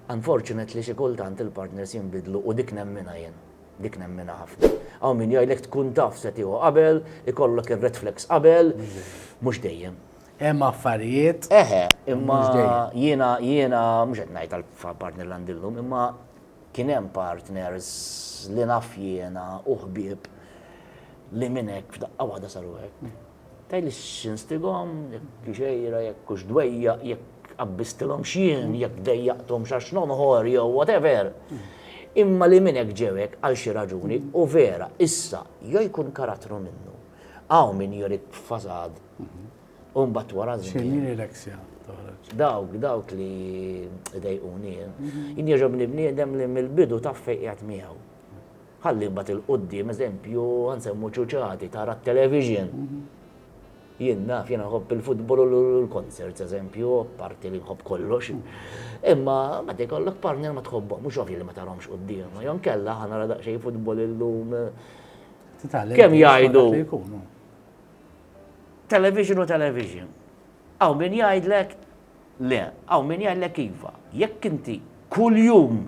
Unfortunate li xi kultant il-partners jinbidlu u dik nemminha jien. Dik nemminha ħafna. Hawn min jgħidlek tkun taf se tieħu qabel, ikollok ir-red flags qabel. Mhux dejjem. Hemm affarijiet. Eħe, imma jiena, jiena, mhux qed ngħid għall-partner li għandi llum, imma kien hemm partners li naf jiena u ħbieb li minn hekk f'daqqa waħda saru hekk. Tgħidli x'instigom, jekk xejra, jekk hux dwejjaq, jekk qabbistilhom x'jien, jekk dejjaqthom x'għax nonħor jew whatever. Imma li minn hekk ġew hekk għal xi raġuni u vera issa jew jkun karattru minnu. Hawn min jurik fasad u mbagħad wara żmien. X'inhi l-eksja? Dawk, dawk li dejquni. Jien jogħġobni bniedem li mill-bidu taf fejn qiegħed miegħu. Ħalli mbagħad 'il quddiem eżempju ħa nsemmu ċuċati tara t-television. Jien naf, jiena nħobb il-futbol u l-concerts eżempju, parti li nħobb kollox. Imma meta jkollok partner ma tħobbhom, mhux ovvju li ma tarahomx quddiem. Jew nkella ħa nara daqsxejn futbol illum. Kemm jgħidu? Television u television. Hawn min jgħidlek le, hawn min jgħidlek iva. Jekk inti kuljum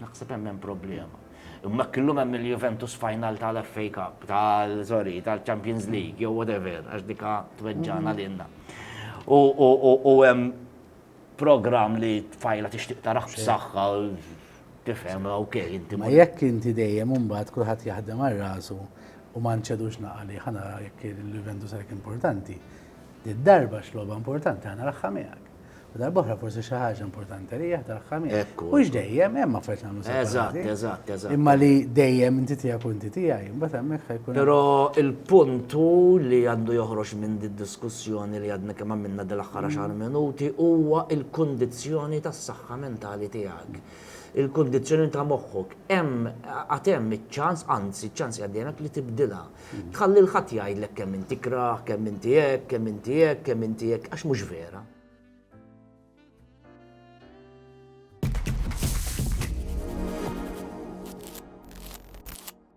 Naħseb hemm hemm problema. Imma hekk illum hemm il-Juventus final tal-FA Cup, tal sorry, tal-Champions League, jew whatever, għax dika tweġġana mhm. lilna. U hemm program li tfajla tixtieq taraħ b'saħħa tifhem ok inti. Ma jekk inti dejjem imbagħad kulħadd jaħdem għal rasu u ma nċedux naqali ħana jekk il-Juventus għalek importanti. Id-darba x'logħba importanti ħana raħħa miegħek. U darbohra forsi xi ħaġa importanti li jaħdar ħamis. Mhux dejjem hemm affarijiet nagħmlu separati. Eżatt, eżatt, eżatt. Imma li dejjem inti tiegħek kunti tiegħi, imbagħad hemmhekk ħajkun. Però il-punt hu li għandu joħroġ minn din diskussjoni li għadna kemm għamilna dil-aħħar għaxar minuti huwa l-kundizzjoni tas-saħħa mentali tiegħek. Il-kundizzjoni ta' moħħok hemm għad hemm iċ-ċans, anzi ċ-ċans jgħaddejlek li tibdilha. Tħalli lil ħadd jgħidlek kemm int tikrah, kemm inti hekk, kemm inti hekk, kemm inti hekk, għax mhux vera.